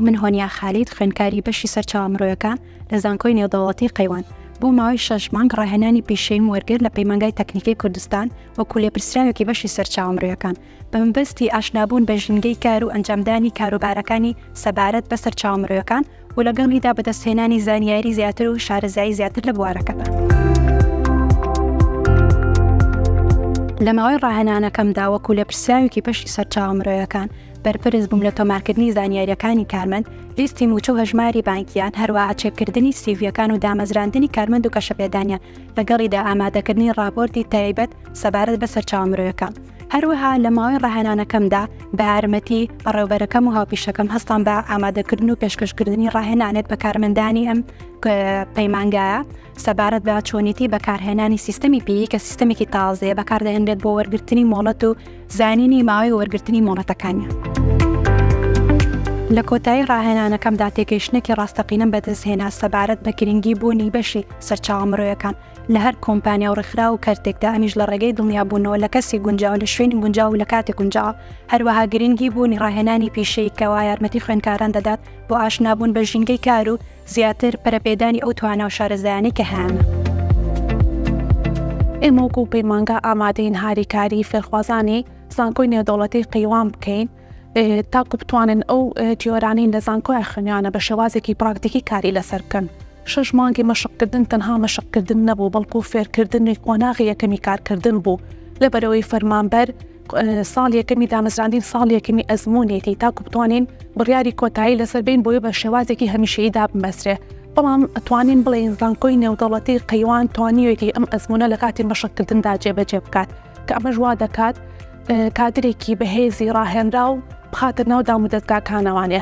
من هۆنیا خالید خوێنکاری بەشی سەرچاوە مرۆیەکان لە زانکۆی نێودەوڵەتی قەیوان بۆ ماوەی شەش مانگ ڕاهێنانی پیشەیم وەرگر لە پەیمانگای تەکنیکی کوردستان وەکو لێپرسراوێکی بەشی سەرچاوە مرۆیەکان بەمەبەستی ئاشنابوون بە ژینگەی کار و ئەنجامدانی کاروبارەکانی سەبارەت بە سەرچاوە مرۆیەکان و لەگەڵیدا بەدەستهێنانی زانیاری زیاتر و شارەزایی زیاتر لە بوارەکەدا. لە ماوەی ڕاهێنانەکەمدا وەکو لێپرسراوێکی بەشی سەرچاوە مرۆیەکان بەرپرس بووم لە تۆمارکردنی زانیارییەکانی کارمەند، لیستی مووچە و هەژماری بانکییان، هەروەها چێککردنی سیڤییەکان و دامەزراندنی کارمەند و گەشەپێدانیان، لەگەڵیدا ئامادەکردنی ڕاپۆرتی تایبەت سەبارەت بە سەرچاوە مرۆیەکان. هەروەها لە ماوەی ڕاهێنانەکەمدا بە یارمەتی بەڕێوبەرەکەم و هاوپیشەکەم هەستان بە ئامادەکردن و پێشکەشکردنی ڕاهێنانێت بە کارمەندانی ئەم پەیمانگایە سەبارەت بە چۆنیتی بەکارهێنانی سیستەمی پێی کە سیستەمێکی تازەیە بەکاردەهێنرێت بۆ وەرگرتنی مۆڵەت و زانینی ماوەی وەرگرتنی مۆڵەتەکانە. لە کۆتایی ڕاهێنانەکەمدا تێگەیشتنێکی ڕاستەقینەم بەدەستهێنا سەبارەت بە گرنگی بوونی بەشی سەرچاوە مرۆیەکان لە هەر کۆمپانیا و ڕێکخراو و کەرتێکدا، ئەمیش لە ڕێگەی دڵنیابوونەوە لە کەسی گونجاو، لە شوێنی گونجاو و لە کاتی گونجاو. هەروەها گرنگی بوونی ڕاهێنانی پیشەیی کەوا یارمەتی خوێندکاران دەدات بۆ ئاشنابوون بە ژینگەی کار و زیاتر پەرەپێدانی ئەو توانا و شارەزایانەی کە هەیانە. ئێمە وەکو پەیمانگا ئامادەین هاریکاریی فێرخوازانی زانکۆی نێودەوڵەتیی قەیوان بکەین. تاکو بتوانن ئەو تیۆرانەی لە زانکۆیان خوێنیانە بە شێوازێکی پراکتیکی کاری لەسەر بکەن. شەش مانگی مەشقکردن تەنها مەشقکردن نەبوو، بەڵکو فێرکردنی قۆناغی یەکەمی کارکردن بوو، لەبەرئەوەی فەرمانبەر ساڵی یەکەمی دامەزراندنی ساڵی یەکەمی ئەزموونێتی تاکو بتوانین بڕیاری کۆتایی لەسەر بین بۆی بە شێوازێکی هەمیشەیی دابمەزرێ، بەڵام ئەتوانین بڵێین زانکۆی نێودەوڵەتی قەیوان توانیوێتی ئەم ئەزموونە لە کاتی مەشقکردندا جێبەجێ بکات، کە ئەمەش وا دەکات. کادرێکی بەهێزی ڕاهێنرا و بخاتە ناو دام و دەستگاکانەوانێ.